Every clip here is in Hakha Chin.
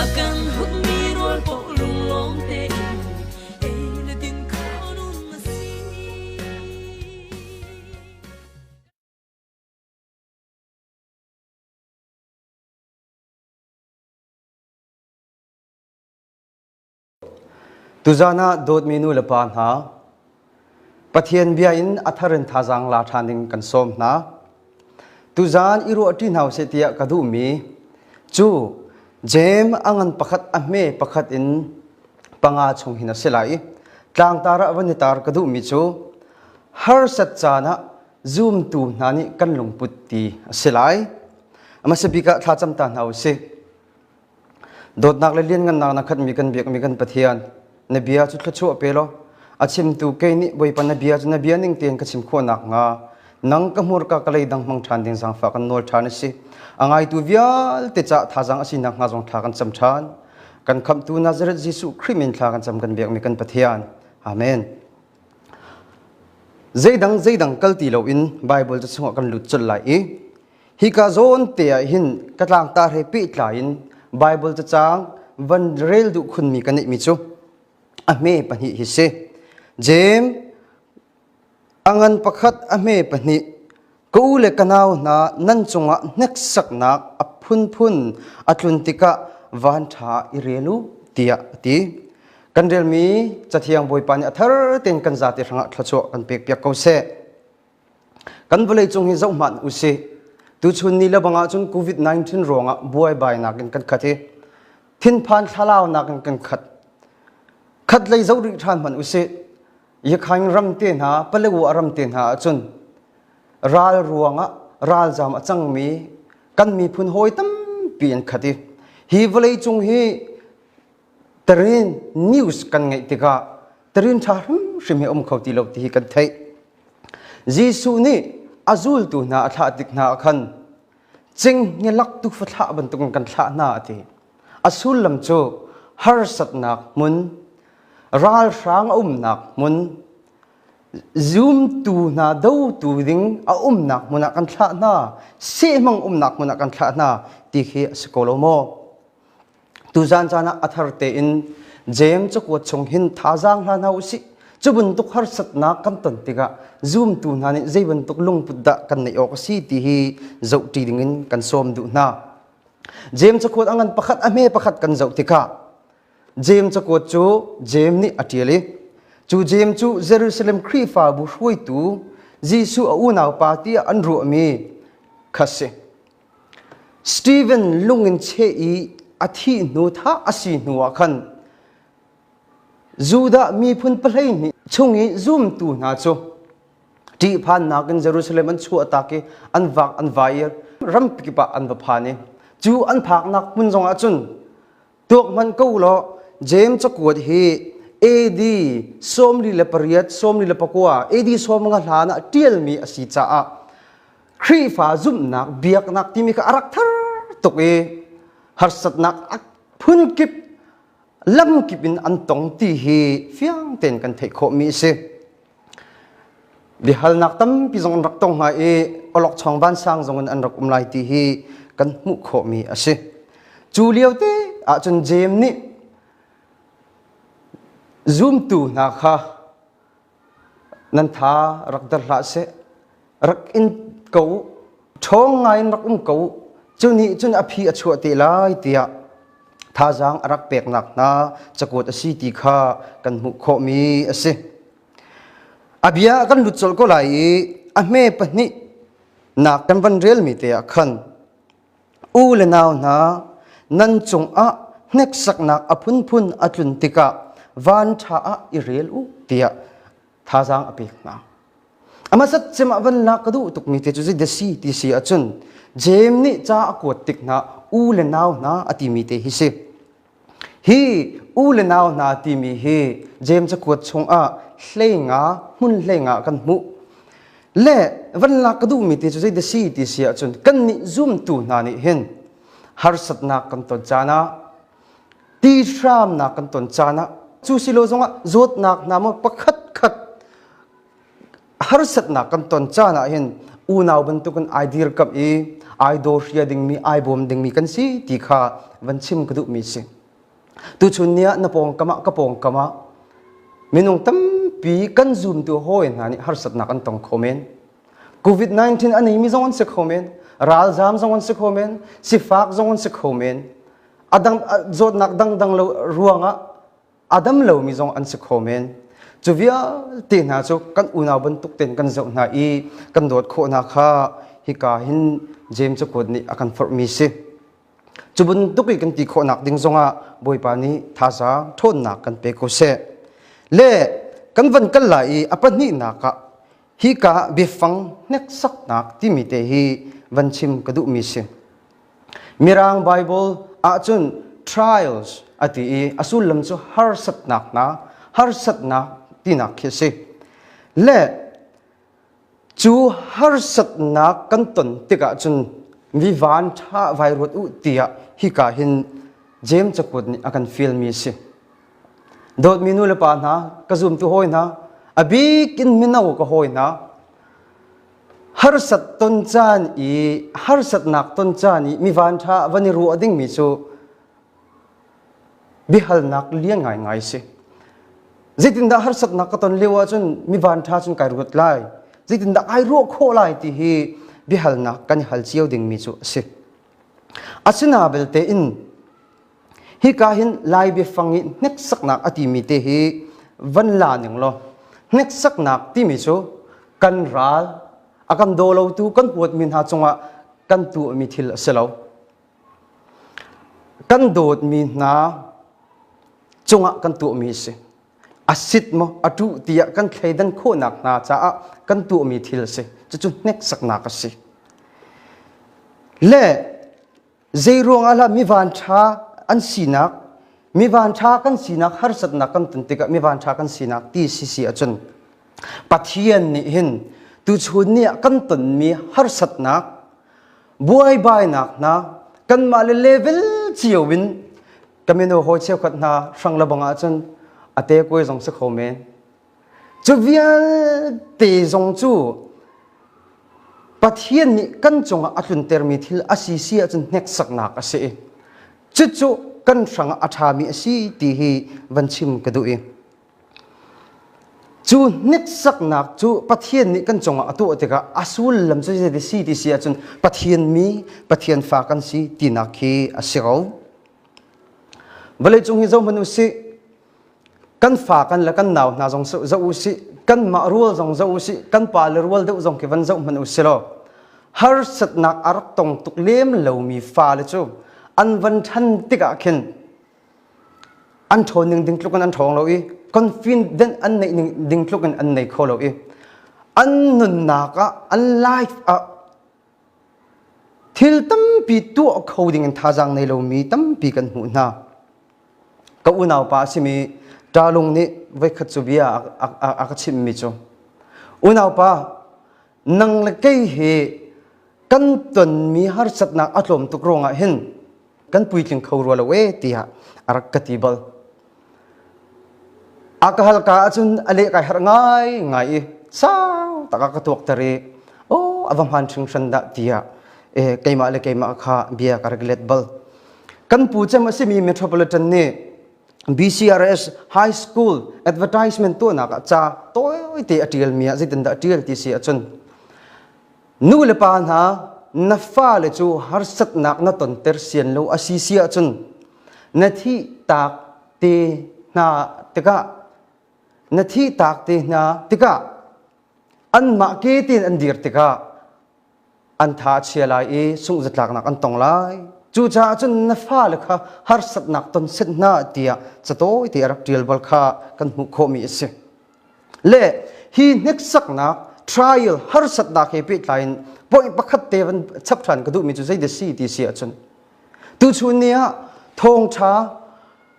a kan hupmi rawl paw lunglawm tein ei na din kho nung a si. Tuzan ah dawtmi nulepa hna, Pathian bia in a thar in thazaang la ṭhan ding kan sawm hna. Tuzan i ruah ṭi hna u sih tiah ka duhmi cu Jeim a ngan pakhat a hme pakhat in panga chung hin a si lai i tlangtar ah van i tar ka duhmi cu harsat caan ah zumtu hna nih kan lungput ti a si lai. A hmasa bik ah thlacam ta hna u sih. Dawtnak le lianngannak na khatmi kan biakmi kan Pathian, na bia cu thluachuah pe law a chimtu kei nih Bawipa na bia cu na bia ning tein ka chim khawh nakhnga nang ka hmurka ka lei dang hmang ṭhan ding zaangfah kan nawl ṭhan a si. A ngaitu vialte caah thazaang a si nakhnga zong thla kan cam ṭhan. Kan khamhtu Nazareth Jesuh Khrih min thla kan cam kan biakmi kan Pathian. Amen. Zeidang zeidang kal ti loin Baibal cu chungah kan lut colh lai i Hika zawn te ah hin ka tlangtar he pehtlai in Bible cacaang van rel duh khunmi ka neihmi cu a hme pahnih hi si. Jeim a ngan pakhat a hme pahnih ka u le ka nau hna nan cungah hneksaknak a phunphun a tlun tikah van ṭha i rel u tiah a ti. Kan relmi Cathiang Bawipa nih a thar tein kan zate hrangah thluachuah kan pekpiak ko seh. Kan vawleicung hi zoh hmanh usih. Tuchun ni le bang ahcun COVID-19 ruangah buaibainak in kan khat i thinphan thlalaunak in kan khat. Khat lei zoh rih ṭhan hmanh usih. Yakhain ram te hna, Palawu a ram te hna ahcun ral ruangah ralzam a cangmi kan miphun hawi tampi an khat i hi vawleicung hi Tarin news kan ngeih tikah tarin ṭha hrimhrim hi um kho ti lo ti hi kan theih. Jesuh nih a zultu hna a thlah tik hna ah khan cinghnge lak tu fa thlah bantukin kan thlah hna a ti. A sullam cu harsatnak hmun, ralhrang a umnak hmun, zumtu hna dotu ding a umnak hmun ah kan thlah hna, sehmang umnak hmun ah kan thlah hna ti khi a si ko lo maw? Tuzan caan ah a thar tein James cakuat chung hin thazaang hlan hau usih. Cu bantuk harsatnak kan ton tikah zumtu hna nih zei bantuk lungput dah kan neih awk a si ti hi zohṭi dingin kan sawm duh hna. James cakuat a ngan pakhat a hme pakhat kan zoh tikah James cakuat cu James nih a ṭial i cu James cu Jerusalem Khrihfabu hruaitu Jesuh a unaupa tiah an ruahmi kha si. Steven lung in cheh i a thih hnu thla a si hnuah khan Judah miphun pahleihnih chung i zumtu hna cu ṭihphannak in Jerusalem an chuahtak i an vak an vair, rampi kip ah an va phan i cu an phaknak hmun zongah cun tuak man ko law James cakuat hi AD sawmli le pariat sawmli le pakua AD sawm nga hlan ah ṭialmi a si caah Khrihfa zumhnak biaknak timi kha a rak thar tuk i harsatnak a phun kip lam kip in an tong ti hi fiang tein kan theih khawhmi a si. Biahalnak tampi zong an rak tong hna i awlokchong vansang zong in an rak um lai ti hi kan hmuh khawhmi a si. Cu liote ahcun Jeim nih zumtu hna kha nan tha rak der hlah seh. rak in ko ṭhawng ngaiin rak um ko cu nih cun a phi a chuah te lai tiah thazaang a rak peknak hna cakuat a si ti kha kan hmuh khawhmi a si a bia kan lut colh ko lai i a hme pahnih nak kan van relmi te ah khan u le nau hna nan cungah hneksaknak a phunphun a tlun tikah van ṭha ah i rel u tiah thazaang a pek hna. Amasat cimah vanlak ka duh tukmi te cu zei da si ti si ahcun Jeim nih ca a kuat tik hna u le nau hna a timi te hi si. Hi u le nau hna timi hi Jeim cakuat chungah hlenga hmun hlenga kan hmuh. Le vanlak ka duhmi te cu zei da si ti si ahcun kannih zumtu hna nih hin harsatnak kan ton caan ah ti hramnak kan ton caan ah cu silo zongah zawtnak hna maw pakhat khat harsatnak kan ton caan ah hin unau bantukin ai dirkamh i ai dawhria dingmi ai bawm dingmi kan si ti kha van chim ka duhmi si tuchun ni ah na pawngkam ah ka pawngkam ah minung tampi kan zumtu hawi hna nih harsatnak an tong kho men COVID-19 a neimi zong an si kho men. Ralzam zong an si kho men. Sifak zong an si kho men. Adam, zawtnak dangdang lo ruangah adam lomi zong an si kho men. Cu vialte hna cu kan unau bantuk ten kan zoh hna i kan dawt khawh hna kha hika hin James cukuat nih a kan forhmi si. Cu bantuk i kan ti khawhnak ding zongah Bawipa nih thazaang ṭhawnnak kan pe ko seh. Le kan van kal lai i a pahnihnak ah Hika biafang hneksaknak timi te hi van chim ka duhmi si. Mirang Bible ahcun trials ati i a sullam cu harsatnak na harsatnak tinak khi si. Le cu harsatnak kan ton tikah cun mi van ṭha vai ruat u tiah hika hin James cakut nih a kan fialmi si. dawtmi nu le pa hna ka zumtu hawi hna a bik in mino ka hawi hna harsat ton caan i harsatnak ton caan i mi van ṭha van i ruah dingmi cu biahalnak lian ngaingai si zeitindah harsatnak ka ton lio ahcun mi van ṭha cun kai ruat lai zeitindah ai ruah khawh lai ti hi biahalnak kan i hal cio dingmi cu a si a sina belte in Hika hin Lai biafang i hneksaknak a timi te hi van la ning law hneksaknak timi cu kan ral a kan daw lotu kan huatmi hna cungah kan tuahmi thil a si lo. Kan dawtmi hna cungah kan tuahmi a si. A sit maw, a ṭuh tiah kan thleidan khawhnak hna caah kan tuahmi thil a si. Cucu hneksaknak a si. Le Zeiruangah lah mi vanṭha an sinak mi vanṭha kan sinak harsatnak kan ton tikah mi vanṭha kan sinak ti sisi ahcun Pathian nih hin tuchun ni ah kan tonmi harsatnak buaibainak hna kanmah le level cio in kamino hawi cheukhat hna hrang le bang ahcun ate kuai zong si kho men Cu vialte zong cu Pathian nih kan cungah a tluntermi thil a si si ahcun hneksaknak a si. Cucu kan hrangah a ṭhami a si ti hi van chim ka duh i cu hneksaknak cu Pathian nih kan cungah a tuah tikah a sullam cu zeidah si ti si ahcun Pathian mi Pathian fa kan si tinak khi a si ko. Vawleicung hi zohhmanh u sih kan fa kan le kan nau hna zong zoh u sih kanmah rual zong zoh u sih kan pa le rual deuh zong khi van zoh hmanh u si law harsatnak a rak tong tuk lem lomi fale cu an van ṭhan tikah khin an ṭhawn ning ding tluk in an ṭhawng lo i confident an neih ning ding tluk in an nei kho lo i an nunnak ah an life ah Thil tampi tuah kho ding in thazaang nei lomi tampi kan hmuh hna. Ka unaupa a simi Ṭalung nih voikhat cu bia a, a, a ka chimhmi cu, Unaupa, nang le kei hi kan tonmi harsatnak a tlawm tuk ruangah hin kan puitling kho rua lo e tiah a rak ka ti bal a ka halka ahcun a leh kai har ngai ngai i sau tak a ka tuak ter i o a va hman hring hran dah tiah e keimah le keimah kha bia ka rak let bal kan pu cem a simi metropolitan nih BCRS High School advertisement tuahnak ah ca tawite a ṭialmi ah zeitin dah a ṭial ti si ahcun Nu le pa hna, na fale cu harsatnak na tonter sian lo a si si ahcun na thih taak te hna tikah na thih taak te hna tikah anmah ke tein an dir tikah an tha a chia lai i sungh zatlaknak an tong lai cucaah cun na fale kha harsatnak ton set hna tiah catawi te a rak ṭial bal kha kan hmuh khawhmi a si le hi hneksaknak trial harsatnak he pehtlai in point pakhat te van chap ṭhan ka duhmi cu zei de si ti si ahcun tuchun ni ah thawngṭha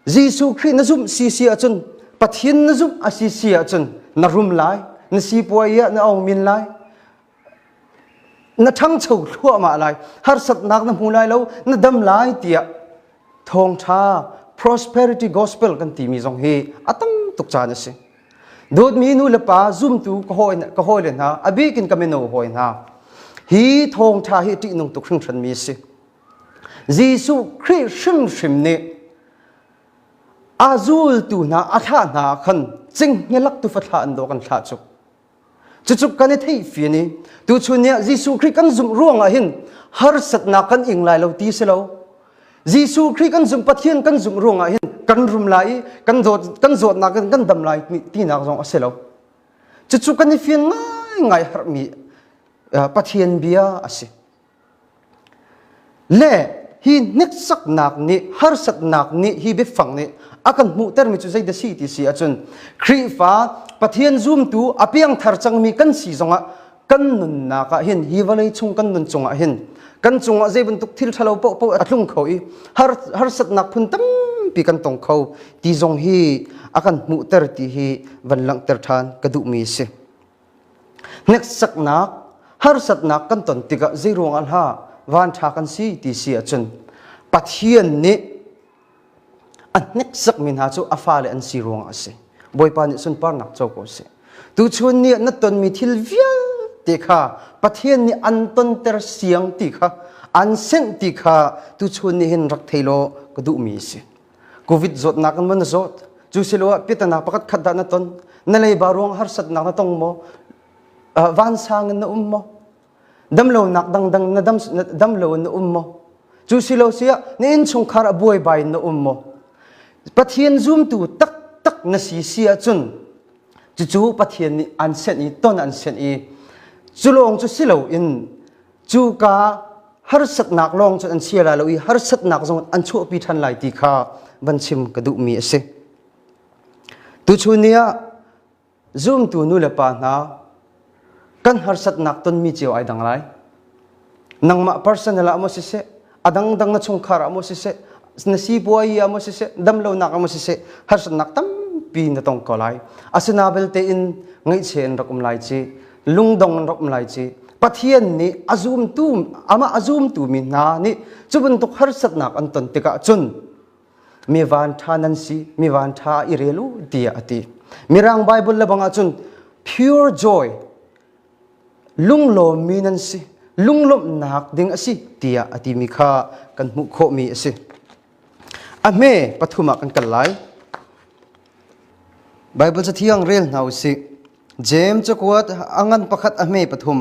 Jesuh Khrih na zumh si si ahcun Pathian na zumh a si si ahcun na rum lai na sipuai ah na ong min lai na ṭhangcho thluahmah lai harsatnak na hmu lai lo na dam lai tiah thawngṭha prosperity gospel kan timi zong hi a tam tuk caan a si dawtmi nu le pa zumtu ka hawi ka hawi le hna a bikin ka mino hawi hna hi thawngṭha hi ṭihnung tuk hringhran mi a si Jesuh Khrih hrimhrim nih a zultu hna a thlah hna khan cinghngelak tu fa thlah an daw kan thlah cu Cucu kan i theih fian i tuchun ni ah Jesuh Khrih kan zumh ruangah hin harsatnak kan ing lai lo ti si lo. Jesuh Khrih kan zumh Pathian kan zumh ruangah hin kan rum lai i kan dawt kan zawtnak in kan dam lai tinak zong a si lo. Cucu kan i fian ngaingai harmi Pathian bia a si. Le hi hniksaknak nih harsatnak nih hi biafang nih a kan hmuhtermi cu zeidah si ti si ahcun Khrihfa Pathian zumtu a piangthar cangmi kan si zongah kan nunnak ah hin hi vawlei chung kan nun cungah hin kan cungah zei bantuk thil ṭhalo paohpaoh a tlung kho i harsatnak phun tampi kan tong kho ti zong hi a kan hmuhter ti hi van langhter ṭhan ka duhmi a si. Hneksaknak, harsatnak kan ton tikah zeiruangah hlah vanṭha kan si ti si ahcun Pathian nih a hneksakmi hna cu a fale an si ruangah a si. Bawipa nih sunparnak co ko sih. Tuchun nih na tonmi thil vialte kha Pathian nih an tonter siang ti kha, an senh ti kha tuchun nih hin rak thei law ka duhmi a si. Covid zawtnak in na zawt. Cu siloah piatanak pakhat khat dah na ton. Na leiba ruang harsatnak na tong maw? Uh, vansang in na um maw? Damlonak dangdang na dam, na, damlo in na um maw? Cu silo siah na innchungkhar a buaibai in na um maw? Pathian zumtu tak tak na si si ahcun cucu Pathian nih an senh i ton an senh i culawng cu silo in cuka harsatnak lawng cu an si lai lo i harsatnak zong an chuahpi ṭhan lai ti kha van chim ka duhmi a si. Tuchun ni ah zumtu nu le pa hna kan harsatnak tonmi cio ai dang lai. Nangmah personal ah maw siseh, a dangdang na chungkhar ah maw siseh na sipuai ah maw siseh damlonak ah maw siseh harsatnak tampi na tong ko lai asina belte in ngaihchia in rak um lai ci lungdong in rak um lai ci pathian nih a zumtu amah a zumtu mi hna nih cu bantuk harsatnak an ton tikah cun mi vanṭha nan si mi vanṭha i rel u tiah a ti mirang bible le bangah cun pure joy lunglawmmi nan si, lunglawmhnak ding a si tiah a timi kha kan hmuh khawhmi a si. A hme pathum ah kan kal lai. Baibal cathiang rel hna u sih. Jeim cakuat a ngan pakhat a hme pathum.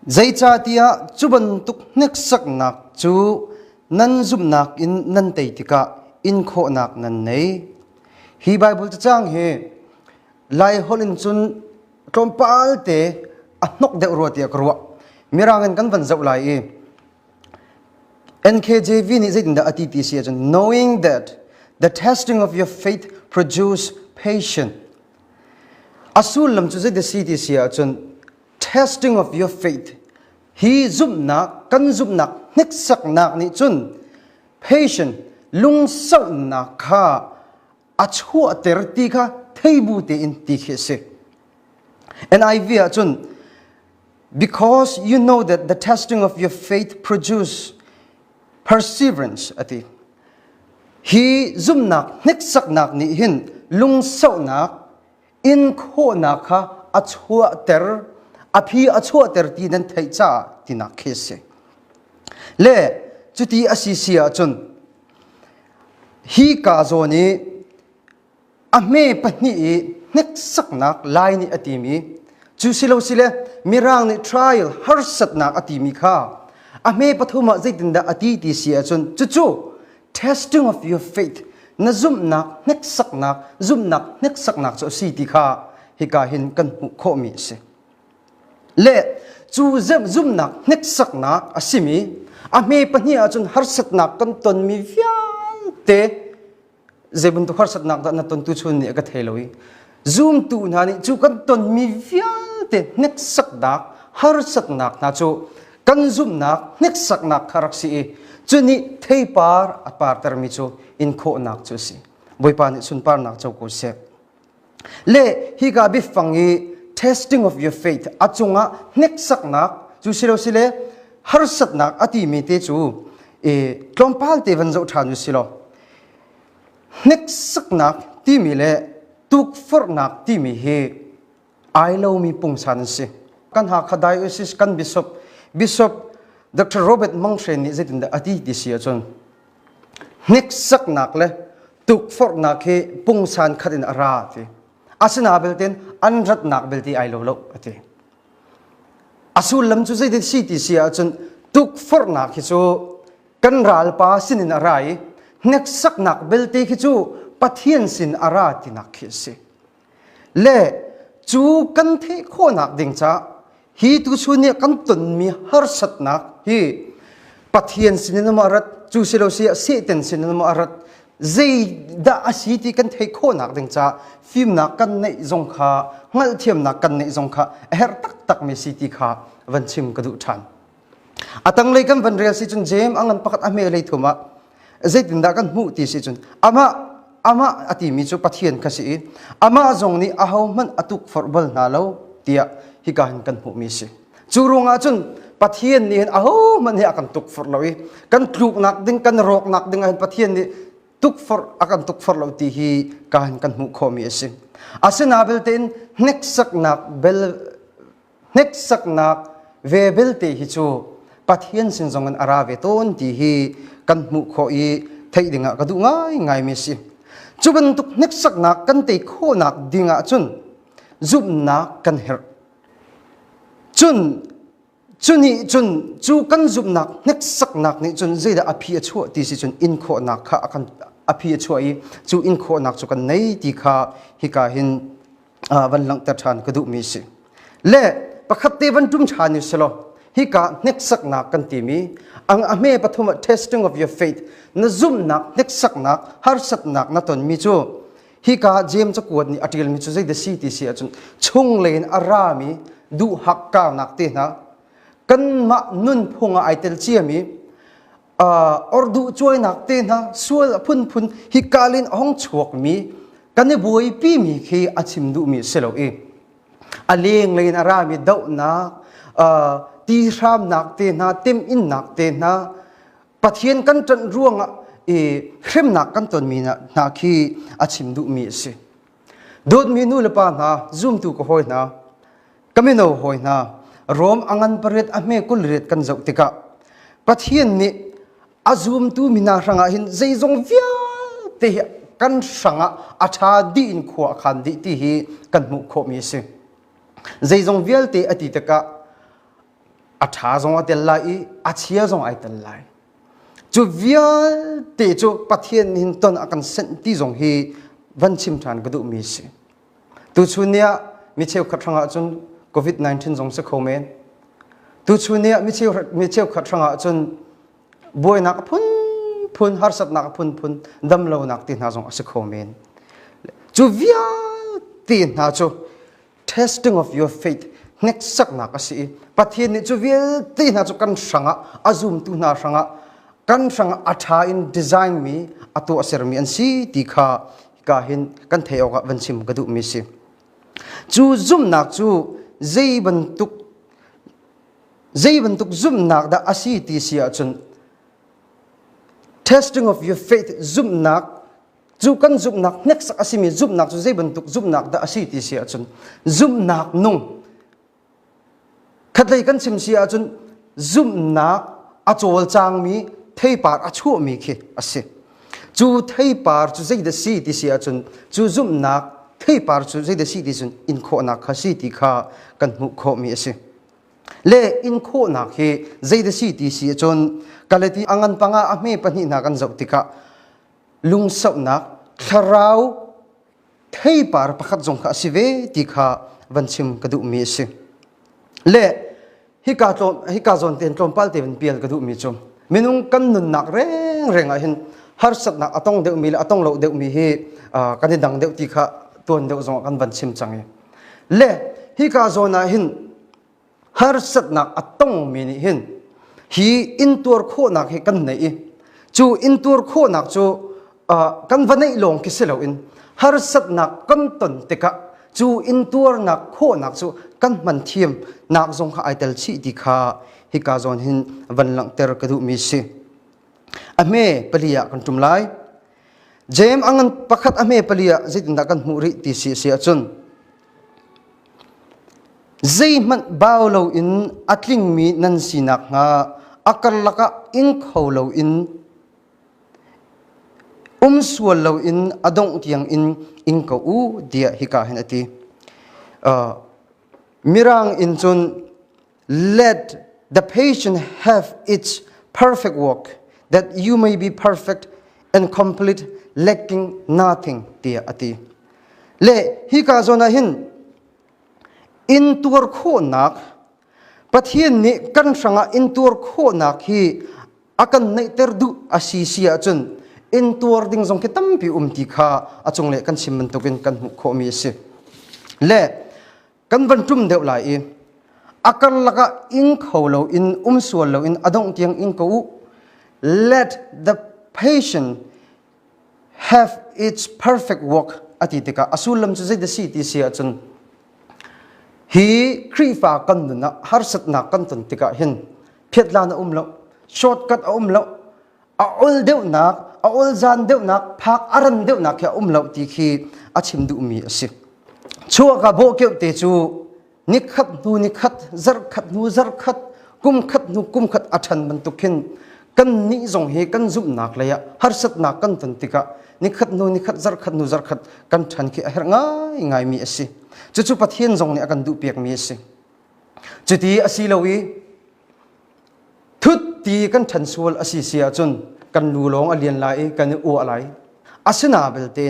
Zeicatiah cu bantuk hneksaknak cu nan zumhnak in nan tei tikah inkhawhnak nan nei. Hi Baibal cacang hi Lai holh in cun tlawmpal te a hnok deuh rua tiah ka ruah. Mirang in kan van zoh lai i NKJV nih zeitindah a ti ti si ahcun knowing that the testing of your faith produce patience. A sullam cu zeidah si ti si ahcun testing of your faith hi zumhnak kan zumhnak hniksaknak nih cun patient lungsauhnak kha a chuahter ti kha theibu tein ti khi a si NIV ah cun because you know that the testing of your faith produce perseverance a ti hi zumnak hneksaknak nih hin lungsauhnak in khawhnak kha a chuahter a phi a chuahter ti nan theih caah tinak khi a si le cuti a si si ahcun hi kaa zawn i a hme pahnih i hneksaknak lai nih a timi cu si lo si le mirang nih trial harsatnak a timi kha a hme pathum ah zeitindah a ti ti si ahcun cucu testing of your faith na zumhnak hneksaknak zumhnak hneksaknak cu a si ti kha hika hin kan hmuh khawhmi a si le cu zumhnak hneksaknak a simi a hme pahnih ahcun harsatnak kan tonmi vialte zei bantuk harsatnak dah na tontu chun nih a ka thei lo i Zumtu hna nih cu kan tonmi vialte hneksaknak, harsatnak hna cu kan zumhnak hneksaknak kha rak si i cu nih theipar a partermi cu inkhawhnak cu a si. Bawipa nih sunparnak co ko seh. Le hika biafang i testing of your faith a cungah hneksaknak cu si lo sile harsatnak a timi te cu i tlawmpal te van zoh ṭhan u silaw hneksaknak timi le tukforhnak timi hi ai lomi pungsan an si kan hakha diocese kan bishop bishop dr robert mang hren nih zeitindah a ti ti si ahcun hneksaknak le tukforhnak hi pungsan khat in a ra ti asina belte an ratnak belte ai lo lo a ti A sullam cu zeitin si ti si ahcun tukforhnak hi cu kan ralpa sinin a ra i hneksaknak belte khi cu Pathian sin a ra tinak khi a si. Le cu kan theih khawhnak ding caah hi tuchun i kan tonmi harsatnak hi Pathian sinin a rat, cu si lo si ah Satan sinin a rat, zeidah a si ti kan theih khawhnak ding caah fimnak kan neih zong kha hngalhthiamnak kan neih zong kha a herh taktakmi si ti kha van chim ka duh ṭhan a tanglei kan van rel si cun James a ngan pakhat a hme lei thum ah zeitindah kan hmuh ti si cun amah amah a timi cu Pathian ka si i amah zong nih ahohmanh a tukforh bal hna lo tiah hika hin kan hmuhmi si Cu ruangah cun Pathian nih hin ahohmanh hi a kan tukforh lo i kan tluknak ding kan rawknak ding ah hin Pathian nih tukforh a kan tukforh lo ti hi ka hin kan hmuh khawhmi a si. Asina belte in hneksaknak bel hneksaknak ve belte hi cu Pathian sin zong in a ra ve tawn ti hi kan hmuh khawh i theih dingah ka duh ngaingaimi a si. Cu bantuk hneksaknak kan tei khawhnak ding ah cun zumhnak kan herh. cun cu nih cun cu kan zumhnak hneksaknak nih cun zeidah a phi a chuah ti si cun inkhawhnak kha a kan a phi a chuah i cu inkhawhnak cu kan nei ti kha hika hin van langhter ṭhan ka duhmi si le pakhat te van ṭum ṭhan ni selaw hika hneksaknak kan timi ang a hme pathum ah testing of your faith na zumhnak hneksaknak harsatnak na tonmi cu hika James cakuat nih a ṭialmi cu zei si ti si ahcun chunglei in a rami duhak kaunak te hna kanmah nunphung ah ai tel ciami uh, or duh cuainak te hna sual a phunphun hikalin a hong chuakmi kan i buaipimi khi a chim duhmi si lo i a lenglei in a rami dohnak uh, ti hramnak te hna temhinnak te hna Pathian kan ṭanh ruangah i hremnak kan tonmi hna khi a chim duhmi a si. Dawtmi nu le pa hna, zumtu ka hawi hna, ka mino hawi hna, Rom a ngan pariat a hme kul riat kan zoh tikah Pathian nih a zumtu mi hna hrangah hin zeizong vialte hi kan hrangah a ṭha dih in khua a khan dih ti hi kan hmuh khawhmi a si. Zeizong vialte a ti tikah a ṭha zong a tel lai i a chia zong ai tel lai. Cu vialte cu Pathian nin ton a kan senh ti zong hi van chim ṭhan ka duhmi a si. Tuchun ni ah mi cheukhat hrangah cun COVID-19 zong si kho men. Tuchun ni ah mi cheukhat, mi cheukhat hrangah cun buainak a phunphun, harsatnak a phunphun, damlonak ti hna zong a si kho men. Cu vialte hna cu testing of your faith hneksaknak a si i Pathian nih cu vialte hna cu kan hrangah a zumtu hna hrangah kan hrangah a ṭha in design mi a tuah sermi an si ti kha hika hin kan theih awkah van chim ka duhmi si cu zumnak cu zei bantuk zei bantuk zumnak dah a si ti si ahcun testing of your faith zumnak Cu kan zumhnak hneksak a simi zumhnak cu zei bantuk zumhnak dah a si ti si ahcun zumhnak nung khatlei kan chim si ahcun zumhnak a cawlcangmi theipar a chuahmi khi a si. Cu theipar cu zeidah si ti si ahcun cu zumhnak theipar cu zeidah si ti cun inkhawhnak kha si ti kha kan hmuh khawhmi a si. Le inkhawhnak hi zeidah si ti si ahcun Galati a ngan pangah a hme pahnih hna kan zoh tikah lungsauhnak thlarau theipar pakhat zong kha a si ve ti kha van chim ka duhmi a si le hika tlawm hika zawn tein tlawmpal te van pial ka duhmi cu minung kan nunnak rengreng ah hin harsatnak a tong deuhmi le a tong lo deuhmi hi kan i dang deuh ti kha tuan deuh zong kan van chim cang i le hika zawn ah hin harsatnak a tongmi nih hin hi intuar khawhnak hi kan nei i cu intuar khawhnak cu kan va neih lawng khi si loin harsatnak kan ton tikah cu intuarnak khawhnak cu kan hman thiam nak zong kha ai tel chih ti kha hika zawn hin van langhter ka duhmi si a hme pali ah kan ṭum lai James a ngan pakhat a hme pali ah zeitindah kan hmuh rih ti si a si ahcun zeihmanh bau loin a tlingmi nan si nakhnga a karlak ah ing kho loin um sual loin a dongh tiang in ing ko u tiah hika hin a ti. Uh, mirang in cun Let the patient have its perfect work, that you may be perfect and complete, lacking nothing, tiah a ti. Le hi ka zawn ah hin in tuar khawhnak Pathian nih kan hrangah in tuar khawhnak hi a kan neihter duh a si si ahcun in tuar ding zong khi tampi um ti kha a cung le kan chim bantukin kan hmuh khawhmi a si. Le kan van ṭum deuh lai i a karlak ah ing kho loin um sual loin a dongh tiang ing ko u let the patient have its perfect work a ti tikah a sullam cu zeidah si ti si ahcun hi Khrihfa kan nun ah harsatnak kan ton tikah hin phiatlan a um lo shortcut a um lo a ol deuhnak, a ol zan deuhnak, phak a ran deuhnak khi a um lo ti khi a chim duhmi a si. Chuaka bawh keuh te cu ni khat hnu ni khat, zarh khat hnu zarh khat, kum khat hnu kum khat a ṭhan bantuk hin kan nih zong hi kan zumhnak lei ah harsatnak kan ton tikah ni khat hnu ni khat zarh khat hnu zarh khat kan ṭhan khi a herh ngai ngaimi a si. Cucu Pathian zong nih a kan duhpiakmi a si. Cuti a si lo i thut ti kan ṭhan sual a si si ahcun kan nu lawng a lian lai i kan i uah lai asina belte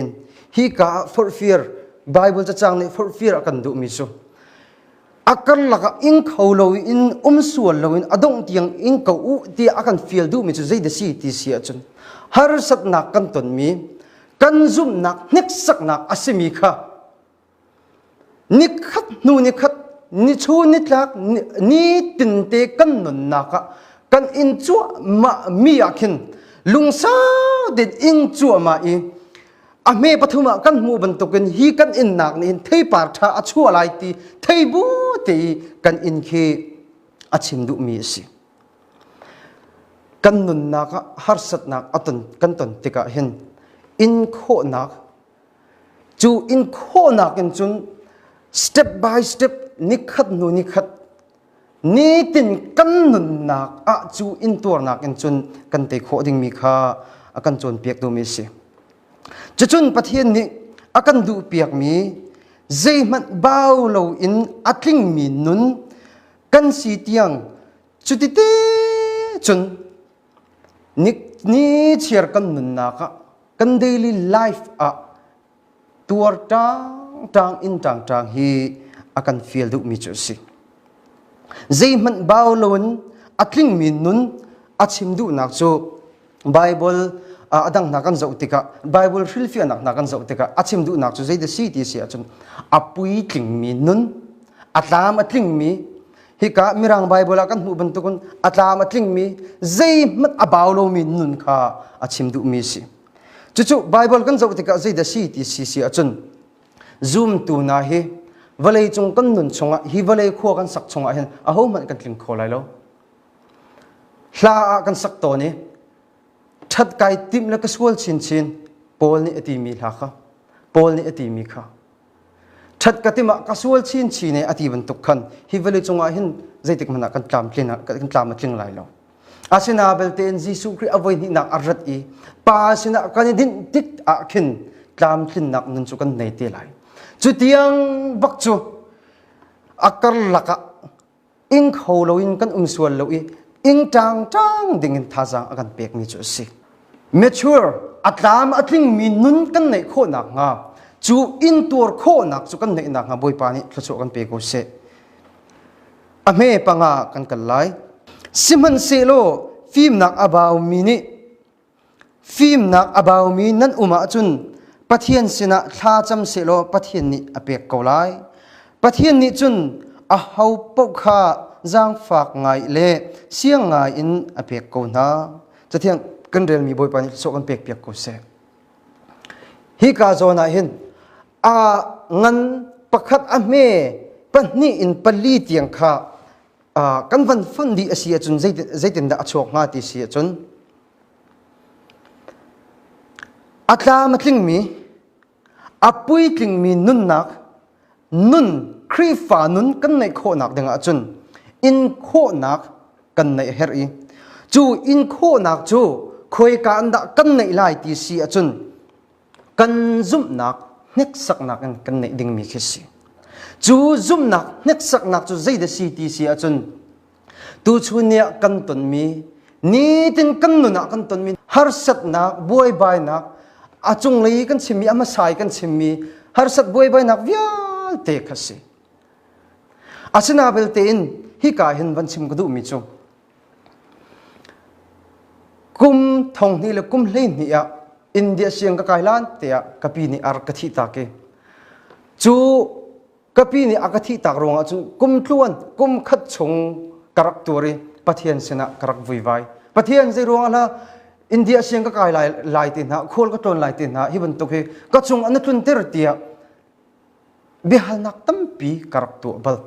hi ka ah forhfir Baibal cacang nih forhfir a kan duhmi cu a karlak ah ing kho loin um sual loin a dongh tiang ing ko u tiah a kan fial duhmi cu zeidah si ti si ahcun harsatnak kan tonmi kan zumhnak hneksaknak a simi kha Nikhat hnu nikhat, nichu nitlak, nitin te kan nunnak ah kan in cuahmah mi ah khin lungsa tein in cuahmah i a hme pathum ah kan hmuh bantukin hi kan innak nih hin theipar ṭha a chuah lai ti thei bu te i kan in khi a chim duhmi a si. Kan nunnak ah harsatnak kan ton tikah hin in khawhnak Cu inkhawhnak in cun step by step nikhat hnu nikhat nitin kan nunnak ah cu intuarnak in cun kan tei khawh dingmi kha a kan cawnpiak dumi a si. Cucun Pathian nih a kan duhpiakmi zeihmanh bau loin a tlingmi nun kan si tiang cuti te cun Ni chiar kan nunnak ah kan daily life ah tuar ṭangṭang in ṭangṭang hi a kan fial duhmi cu a si. Zeihmanh bau loin a tlingmi nun a chim duhnak cu Baibal a dang hna kan zoh tikah Baibal hrilhfiahnak hna kan zoh tikah a chim duhnak cu zei da si ti a si ahcun a puitlingmi nun, a tlam a tlingmi Hika Mirang Baibal ah kan hmuh bantukin a tlam a tlingmi zeihmanh a bau lomi nun kha a chim duhmi a si. Cucu Baibal kan zoh tikah zeidah si ti si si ahcun zumtu hna hi vawleicung kan nun chungah hi vawlei khua kan sak chungah hin ahohmanh kan tling kho lai lo. Hla ah kan sak tawn i ṭhat kai timh le ka sual chinchin Paul nih a timi hla kha Paul nih a timi kha Ṭhat ka tim ah ka sual chinchin e a ti bantuk khan hi vale cungah hin zeitik hmanh ah kan tlamtlin kan tlam a tling lai lo. Asina belte in Jesuh Khrih a voi hnihnak a rat i pa sinah kan i dinh tik ah khin tlamtlinnak nun cu kan nei te lai. Cu tiang bak cu a karlak ah ing kho loin kan um sual lo i ing ṭangṭang dingin thazaang a kan pekmi cu a si. Mature a tlam a tlingmi nun kan neih khawh nakhnga cu intuar khawhnak cu kan neih nakhnga Bawipa nih thluachuah kan pe ko seh. A hme panga kan kal lai. Sihmanhsehlaw fimnak a baumi nih Fimnak a baumi nan um ahcun Pathian sinah thlacam sehlaw Pathian nih a pek ko lai. Pathian nih cun a ho paoh kha zaangfak ngai le siang ngai in a pek ko hna. Cathiang kan relmi Bawipa nih so kan pek piak ko seh. Hi ka zawn ah hin a ngan pakhat a hme pahnih in pali tiang kha kan van fonh dih a si ahcun zeitindah a chuak hnga ti si ahcun a tlam a tlingmi a pui tlingmi nunnak nun Khrihfa nun kan neih khawhnak dingah cun in khawhnak kan neih herh i cu in khawhnak cu khuaika in dah kan neih lai ti si ahcun kan zumhnak hneksaknak in kan neih dingmi khi a si. Cu zumhnak hneksaknak cu zeidah si ti si ahcun tuchun ni ah kan tonmi nitin kan nun ah kan tonmi harsatnak, buaibainak, a cunglei kan chimmi, a hmasa i kan chimmi harsat buaibainak vialte kha si. Asina belte in hika hin van chim ka duhmi cu Kum thonghnih le kum hleihnih ah India siang ka kai lan tiah ka pi nih ar ka thih tak i cu ka pi nih a ka thih tak ruangah cun kum tluan kum khat chung ka rak tuar i Pathian sinah ka rak vuivai. Pathian zei ruangah la India siang ka kai lai lai te hna khual ka ṭawn lai te hna hi bantuk hi ka cung an i tlunter tiah biahalnak tampi ka rak tuah bal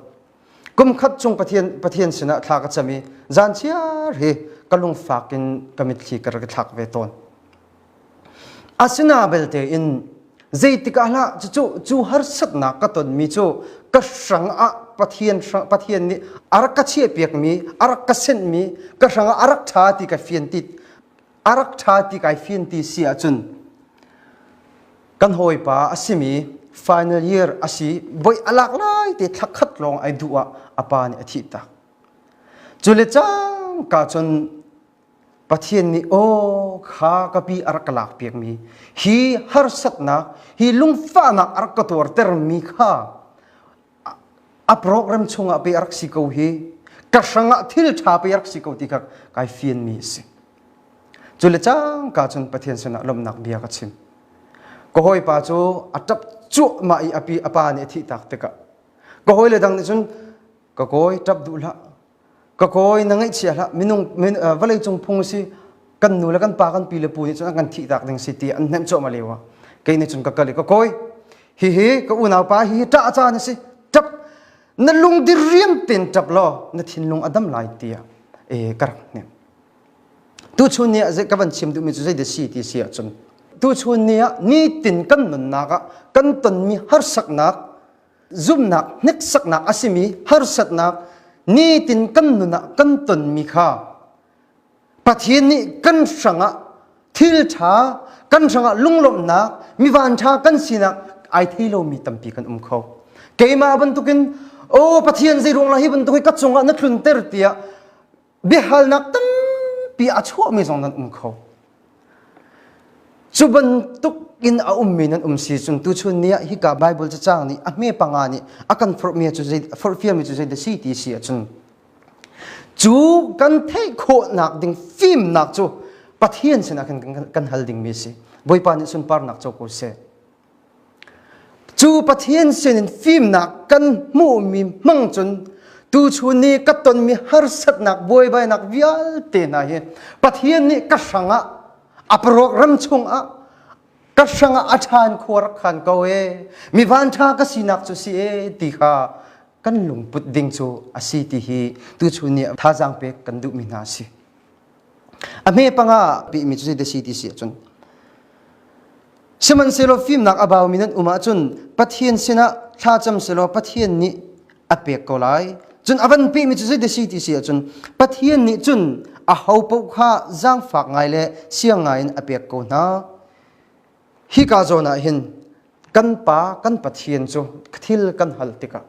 kumkhat chung pathian pathian sinah thla ka cam i zan chiar hi ka lungfak in ka mitthli ka rak thlak ve tawn asina belte in zeitik ahlah cucu cu harsatnak ka tonmi cu ka hrang ah pathian pathian nih a rak ka chiah piakmi a rak ka senhmi ka hrang ah a rak ṭha ti ka fian tit a rak ṭha ti kai fian ti si ahcun kan hawipa a simi final year a si voi a lak lai te thla khat lawng ai duh ah a pa nih a thih tak cule cang ka cun pathian nih aw kha ka pi a rak ka lak piakmi hi harsatnak hi lungfahnak a rak ka tuartermi kha a program chungah pe a rak si ko hi ka hrangah thil ṭha pe a rak si ko ti kha kai fianmi a si cule cangka cun Pathian sinah lawmhnak bia ka chim ka hawipa cu a ṭap cuahmah i a pi a pa nih a thih tak tikah ka hawile dang nih cun ka kawi ṭap duh hlah ka kawi na ngaihchia hlah minung min, uh, vawleicung phung si kan nu le kan pa kan pi le pu nih cun an kan thih tak ding si ti an hnemh cuahmah leo ah kei nih cun ka kal i ka kawi hihi ka unaupa hihi ṭah ca na si ṭap na lung di riam ten ṭap law na thinlung a dam lai tiah e ka rak hnem tu chun ni ah zei ka van chim duhmi cu zei de si ti si ahcun tu chun ni ah nitin kan nunnak ah kan tonmi harsaknak zumhnak hneksaknak a simi harsatnak nitin kan nun ah kan tonmi kha Pathian nih kan hrangah thil ṭha kan hrangah lunglawmhnak mi vanṭha kan sinak ai thei lomi tampi kan um kho keimah bantukin o Pathian zei ruang la hi bantuk hi ka cungah na tlunter tiah biahalnak tampi a chuahmi zong nan um kho. Cu bantuk in a ummi nan um si cun tuchun ni ah hika Bible cacang nih a hme panga nih a kan forhmi cu zei forhfialmi cu zeidah si ti si ahcun cu kan theih khawhnak ding fimnak cu Pathian sinah khin kan, kan hal dingmi si. Bawipa nih sunparnak co ko seh. Cu Pathian sinin fimnak kan hmuhmi hmang cun tuchun ni ka tonmi harsatnak buaibainak vialte hna hi Pathian nih ka hrangah a program chungah ka hrangah a ṭhan khua rak khan ko e mi vanṭha ka sinak cu si e ti kha kan lungput ding cu a si ti hi tuchun ni thazaang pek kan duhmi hna a si. a hme panga pi mi cu de si ti si cun sihmanhsehlaw fimnak a bau mi nan um ahcun Pathian sinah thlacam selaw Pathian nih a pek ko lai cun a van pi mi cu de si ti si ahcun Pathian nih cun a ho paoh kha zaangfak ngai le siang ngai in a pek ko hna hika zawn ah hin kan pa kan Pathian cu thil kan hal tikah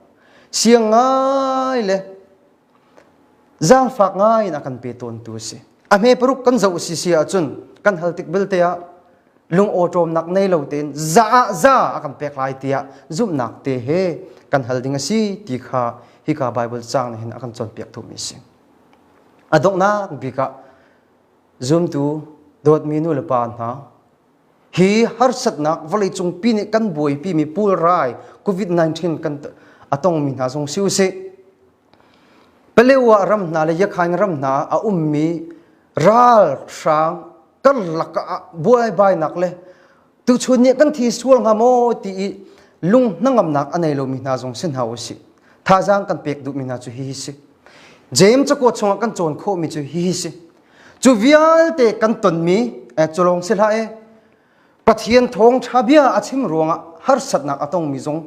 siang ngai le Zaangfak ngai in a kan pe tawntu a si. A hme paruk kan zoh si si ahcun kan hal tik belte ah lungawṭawmnak nei lo tein za ah za a kan pek lai tiah zumhnak te he kan hal ding a si ti kha hika Baibal caang nih hin a kan cawnpiak thumi a si. A donghnak bik ah zumtu dawtmi nu le pa hna hi harsatnak vawleicung pi nih kan buaipi mi pulrai covid-19 kan a tongmi hna zong si usih Palewa ram hna le Yakhain ram hna a ummi ralhrang karlak ah buaibainak le tuchun nih kan thi sual hnga maw ti i lung hnangamnak a nei lomi hna zong si hna usih thazaang kan pek duhmi hna cu hihi si James cakuat chungah kan cawn khawhmi cu hihi si cu vialte kan tonmi eh culong si hlah eh Pathian thawngtha bia a chim ruangah harsatnak a tongmi zong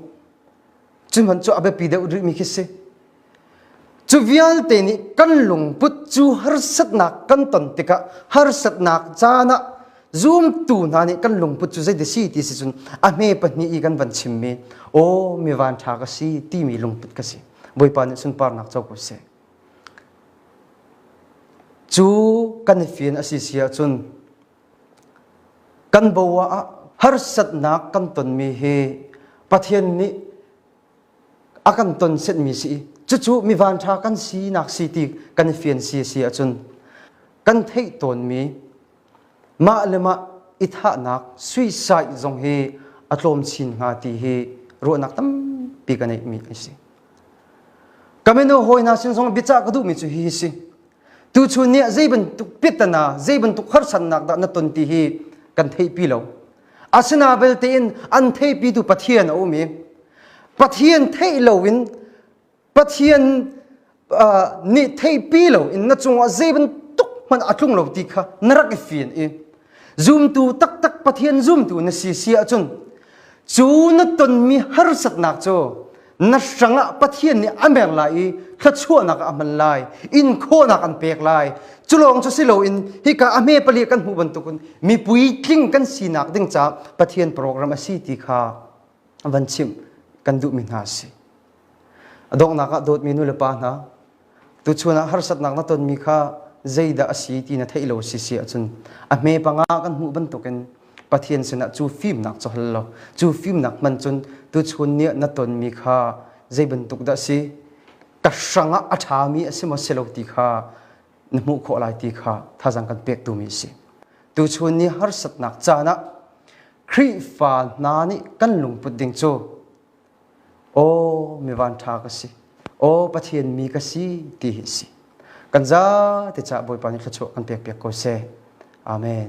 cuman cu a biapi deuh rihmi khi si cu vialte nih kan lungput cu harsatnak kan ton tikah harsatnak caan ah zumtu hna nih kan lungput cu zeiti si ti si cun a hme pahnih i kan van chimmi aw mi van tha ka si timi lungput ka si bawipa nih sunparnak co ko seh Cu kan fian a si si ahcun kan boa ah harsatnak kan tonmi hi Pathian nih a kan ton setmi si i cucu mi vanṭha kan sinak si ti kan fian si a si ahcun kan theih tawnmi Mah le mah i thahnak suicide zong hi a tlawm chin hnga ti hi ruahnak tampi ka neihmi an si. Kamino hawina sin zong biacah ka duhmi cu hihi si. Tuchun nih zei bantuk pitana, zei bantuk harsannak dah na ton ti hi kan theihpi lo. Asina belte in an theihpitu Pathian a um i Pathian theih lo in Pathian nih theipi loin na cungah zei bantuk hmanh a tlung lo ti kha na rak i fian i zumtu taktak Pathian zumtu na si si ahcun cu na tonmi harsatnak cu na hrangah Pathian nih a meng lai i thluachuahnak ah a hman lai inkhawhnak an pek lai cu lawng cu si loin hika a hme pali kan hmuh bantukin mipui tling kan sinak ding caah Pathian program a si ti kha van chimh kan duhmi hna a si. A donghnak ah dawtmi nulepa hna, tuchun ah harsatnak na tonmi kha zeidah a si ti na theih lo si si ahcun a hme panga kan hmuh bantukin Pathian sinah cu fimnak cu hal law cu fimnak hman cun tuchun nih na tonmi kha zei bantuk dah a si ka hrangah a ṭhami a si maw si lo ti kha na hmuh khawh lai ti kha thazang kan pek tumi a si. Tuchun ni harsatnak caan ah Khrihfa hna nih kan lungput ding cu aw mi vanṭha ka si aw Pathian mi ka si ti hi a si kan za te ca Bawipa nih thluachuah kan pek piak ko seh amen